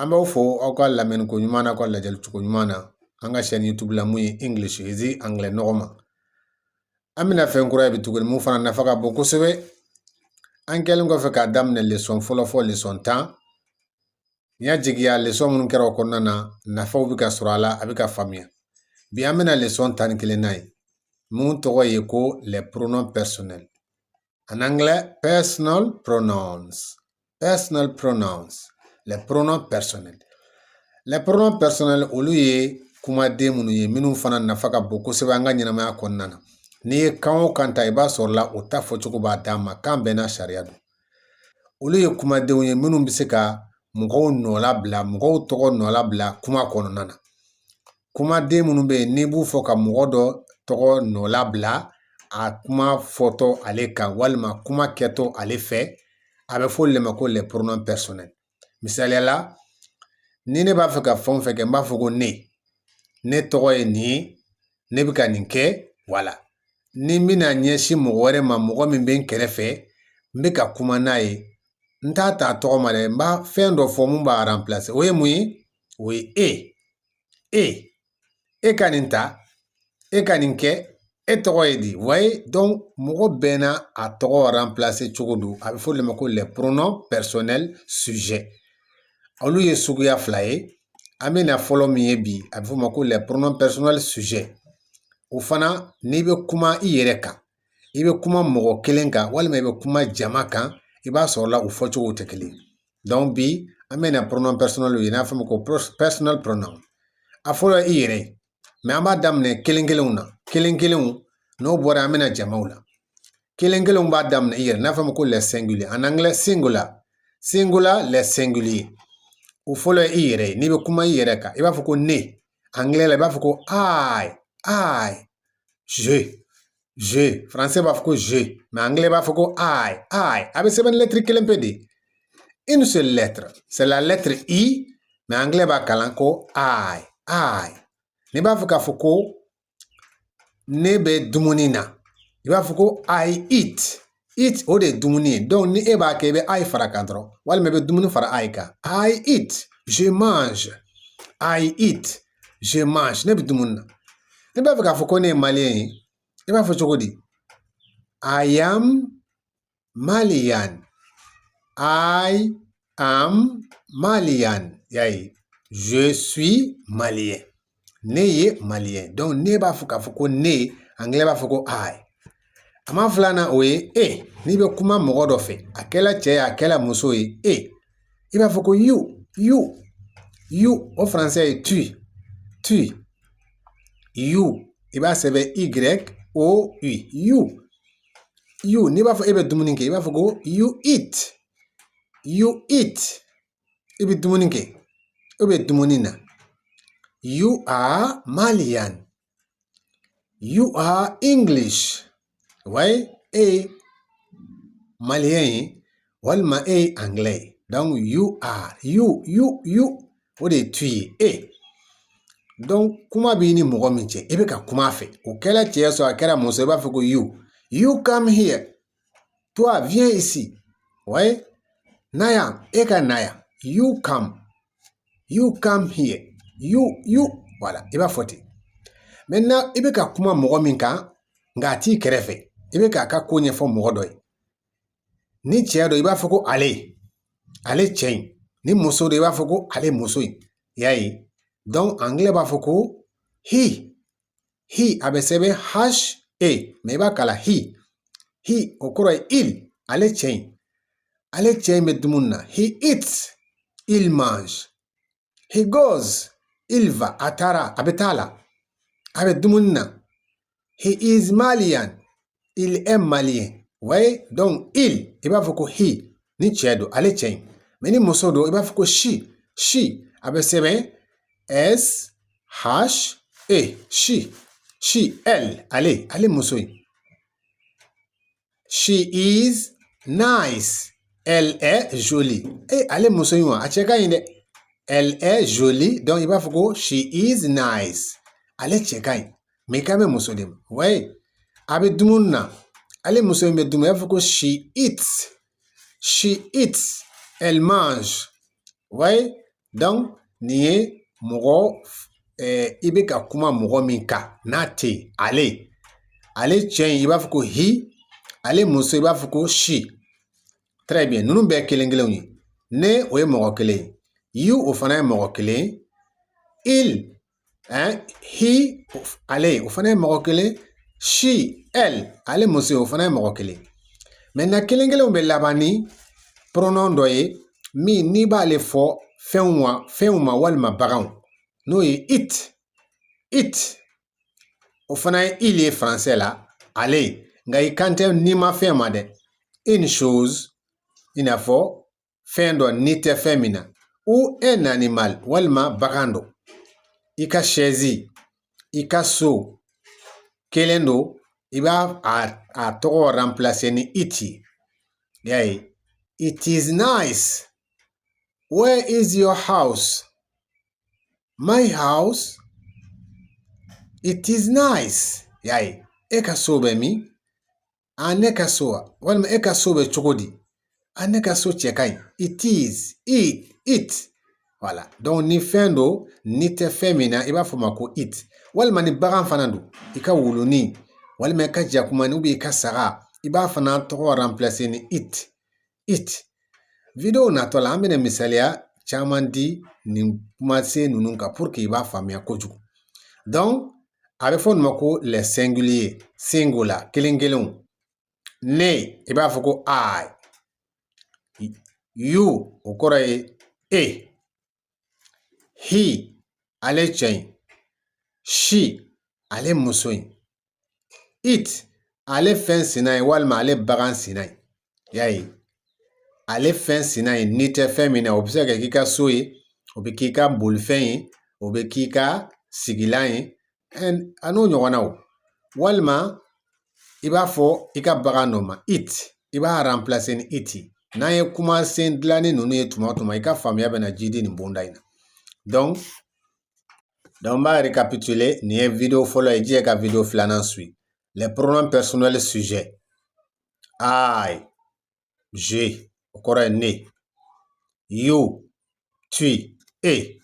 an b'aw fo aw ka lamɛnni ko ɲuman na aw ka lajɛli cogo ɲuman na an ka chaîne youtube la mun ye english easy angilɛ nɔgɔman an bɛna fɛn kura ye bi tuguni mun fana nafa ka bon kosɛbɛ an kɛlen kɔfɛ k'a daminɛ lesɔn fɔlɔ fɔ lesɔn tan n y'a jigiya lesɔn minnu kɛra o kɔnɔna na nafaw bɛ ka sɔrɔ a la a bɛ ka faamuya bi an bɛna lesɔn tan ni kelen na ye mun tɔgɔ ye ko les pronoms personnels en anglais personal pronouns personal pronouns les pronoms personnels les pronoms personnels olu ye kumaden minnu ye minnu fana nafa ka bon kosɛbɛ an ka ɲɛnamaya kɔnɔna na n'i ye kan o kan ta i b'a sɔrɔla o ta fɔcogo b'a dan ma kan bɛɛ n'a sariya don olu ye kumadenw ye minnu bɛ se ka mɔgɔw nɔlabila mɔgɔw tɔgɔ nɔlabila kuma kɔnɔna na kumaden minnu bɛ yen n'i b'u fɔ ka mɔgɔ dɔ tɔgɔ nɔlabila a kuma fɔtɔ ale kan walima kuma kɛtɔ ale fɛ a bɛ fɔ olu de ma ko les pronoms personnels misaliya la ni ne b'a fɛ ka fɛn o fɛn kɛ n b'a fɔ ko ne ne tɔgɔ ye nin ye ne bɛ ka nin kɛ wala ni n bɛna ɲɛsin mɔgɔ wɛrɛ ma mɔgɔ min bɛ n kɛrɛfɛ n bɛ ka kuma n'a ye n t'a ta tɔgɔ ma dɛ n b'a fɛn dɔ fɔ mun b'a ranpilase o ye mun ye o ye e e e ka nin ta e ka nin kɛ e tɔgɔ ye di voyez donc mɔgɔ bɛɛ n'a tɔgɔ ranpilase cogo don a bɛ fɔ olu de ma ko les pronoms personnels sujets olu ye suguya fila ye an bɛna fɔlɔ min ye bi a bɛ fɔ o ma ko les pronoms personnels sujets o fana n'i bɛ kuma i yɛrɛ kan i bɛ kuma mɔgɔ kelen kan walima i bɛ kuma jama kan i b'a sɔrɔ la u fɔ cogo tɛ kelen donc bi an bɛna pronoms personnels ye n'a fɔ o ma ko personal pronoun a fɔlɔ i yɛrɛ ye mais an b'a daminɛ kelen kelenw na kelen kelenw n'o bɔra an bɛna jamaw la kelen kelenw b'a daminɛ i yɛrɛ n'a fɔ o ma ko les singuliers en anglais singular singular les singuliers o fɔlɔ ye i yɛrɛ ye n'i bɛ kuma i yɛrɛ kan i b'a fɔ ko ne angilɛ la i b'a fɔ ko i i je je français b'a fɔ ko je mais angilɛ b'a fɔ ko i i a bɛ sɛbɛn lɛtiri kelen pe de une seule lettre c'est la lettre i mais angilɛ b'a kalan ko i i n'i b'a fɛ k'a fɔ ko ne bɛ dumuni na i b'a fɔ ko i eat eat o de ye dumuni ye donc ni e b'a kɛ i bɛ i fara kan dɔrɔn walima i bɛ dumuni fara i kan i eat je mange i eat je mange ne bɛ dumuni na n'i b'a fɛ k'a fɔ ko ne ye maliyɛn ye i b'a fɔ cogo di i am Malian. I am Malian. Y'a ye. Je suis malien. Ne ye malien. Donc ne b'a fɔ k'a fɔ ko ne, anglais b'a fɔ ko I. A maa filanan o ye e. N'i bɛ kuma mɔgɔ dɔ fɛ, a kɛla cɛ ye, a kɛla muso ye, e. I b'a fɔ ko you, you, you. O français ye tu, tu. You. I b'a sɛbɛn Y O U, you. you n'i b'a fɔ e bɛ dumuni kɛ i b'a fɔ ko you eat you eat i bɛ dumuni kɛ e bɛ dumuni na you are malian you are english ouais e ye maliyɛn ye walima e ye angilɛ ye donc you are you you you o de ye tu ye e donc kuma b'i ni mɔgɔ min cɛ i bɛ ka kuma a fɛ o kɛla cɛ sɔrɔ a kɛra muso i b'a fɔ ko you you come here toi viens ici ouais na yan e ka na yan you come you come here you you voilà i b'a fɔ ten maintenant i bɛ ka kuma mɔgɔ min kan nka a t'i kɛrɛfɛ i bɛ k'a ka ko ɲɛfɔ mɔgɔ dɔ ye ni cɛ don i b'a fɔ ko ale ale cɛ in ni muso don i b'a fɔ ko ale muso in y'a ye donc angilɛ b'a fɔ ko he he a bɛ sɛbɛn h e mais i b'a kalan he he o kɔrɔ ye il ale cɛ in ale cɛ in bɛ dumuni na he eats il mange he goes il va a taara a bɛ taa la a bɛ dumuni na he is malian il est malien ouais donc il i b'a fɔ ko he ni cɛ don ale cɛ in mais ni muso don i b'a fɔ ko she she a bɛ sɛbɛn s h e she she elle ale ale muso in she is nice elle est jolie e ale muso in wa a cɛ ka ɲi dɛ elle est jolie donc i b'a fɔ ko she is nice ale cɛ ka ɲi mais i kan bɛ muso de ma ouais a bɛ dumuni na ale muso in bɛ dumuni i b'a fɔ ko she eats she eats elle mange ouais nin ye mɔgɔ i bɛ ka kuma mɔgɔ min kan n'a tɛ yen ale ale cɛ in i b'a fɔ ko he ale muso i b'a fɔ ko she très bien ninnu bɛɛ kelen kelenw ye ne o ye mɔgɔ kelen ye you o fana ye mɔgɔ kelen ye he ale o fana ye mɔgɔ kelen she elle ale muso o fana ye mɔgɔ kelen maintenant kelen kelenw bɛ laban ni pronom dɔ ye min n'i b'ale fɔ fɛnw ma fɛnw ma walima baganw n'o ye it it o fana ye il ye faransɛ la ale nka i kan tɛ nimafɛn ma dɛ une chose i n'a fɔ fɛn dɔ ni tɛ fɛn min na ou un animal walima bagan dɔ i ka sɛzi i ka so kelen don i b'a tɔgɔ remplacer ni it y'a ye it is nice where is your house my house it is nice y'a ye e ka so bɛ min a ne ka so wa walima e ka so bɛ cogo di a ne ka so cɛ ka ɲi it is it it voilà donc ni fɛn don ni tɛ fɛn min na i b'a fɔ ma ko it walima ni bagan fana don i ka wuluni walima i ka jakumani ou bien i ka saga i b'a fana tɔgɔ remplacer ni it it video natɔ la an bɛna misaliya caman di nin kumasen ninnu kan pour que i b'a faamuya kojugu donc a bɛ fɔ ninnu ma ko les singuliers singular kelen kelenw ne i b'a fɔ ko I you o kɔrɔ ye e He ale cɛ in she ale muso in it ale fɛn sina ye walima ale bagan sina ye y'a ye ale fɛn sina ye ni tɛ fɛn min na o bɛ se ka k'i ka so ye o bɛ k'i ka bolifɛn ye o bɛ k'i ka sigilan ye an'o ɲɔgɔnnaw walima i b'a fɔ i ka bagan dɔ ma it i b'a remplacer ni it n'an ye kumasen dilannen ninnu ye tuma o tuma i ka faamuya bɛna jidi nin bonda in na donc n b'a récapituler n'i ye video fɔlɔ ye i jija ka video filanan suivre les pronoms personnels sujet I je o kɔrɔ ye ne you tu e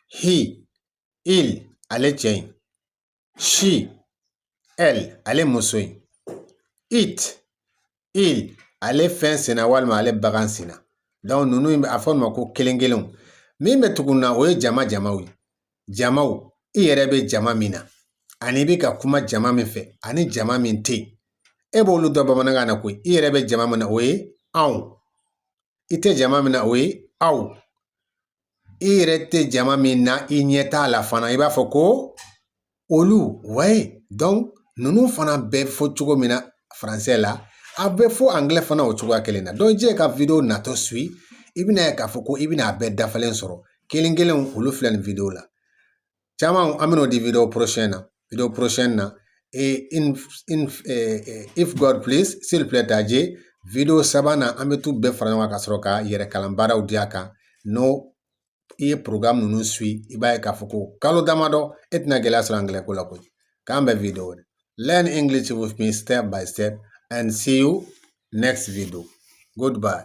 he il ale cɛ in she elle ale muso in it il ale fɛn senna walima ale bagan senna donc ninnu i b'a fɔ ninnu ma ko kelen kelenw min bɛ tugun na o ye jama jamaw ye jamaw i yɛrɛ bɛ jama min na ani i bɛ ka kuma jama min fɛ ani jama min tɛ yen e b'olu dɔn bamanankan na koyi i yɛrɛ bɛ jama min na o ye anw i tɛ jama min na o ye aw i yɛrɛ tɛ jama min na i ɲɛ t'a la fana i b'a fɔ ko olu wayi donc ninnu fana bɛ fɔ cogo min na faransɛ la a bɛ fɔ angilɛ fana o cogoya kelen na donc i jija ka wideyo natɔ suivre i bɛn'a ye k'a fɔ ko i bɛna a bɛɛ dafalen sɔrɔ kelen kelen olu filɛ nin wideyo la caman an bɛn'o di video prochain na video prochain na et in, in, eh, eh, if God please s'il plaît à Dieu video sabanan an bɛ t'u bɛɛ fara ɲɔgɔn kan ka sɔrɔ ka yɛrɛ kalan baaraw di a kan n'o i ye programme ninnu suivre i b'a ye k'a fɔ ko kalo damadɔ e tɛna gɛlɛya sɔrɔ angilɛ ko la koyi k'an bɛn video wɛrɛ learn English with me step by step and see you next video goodbye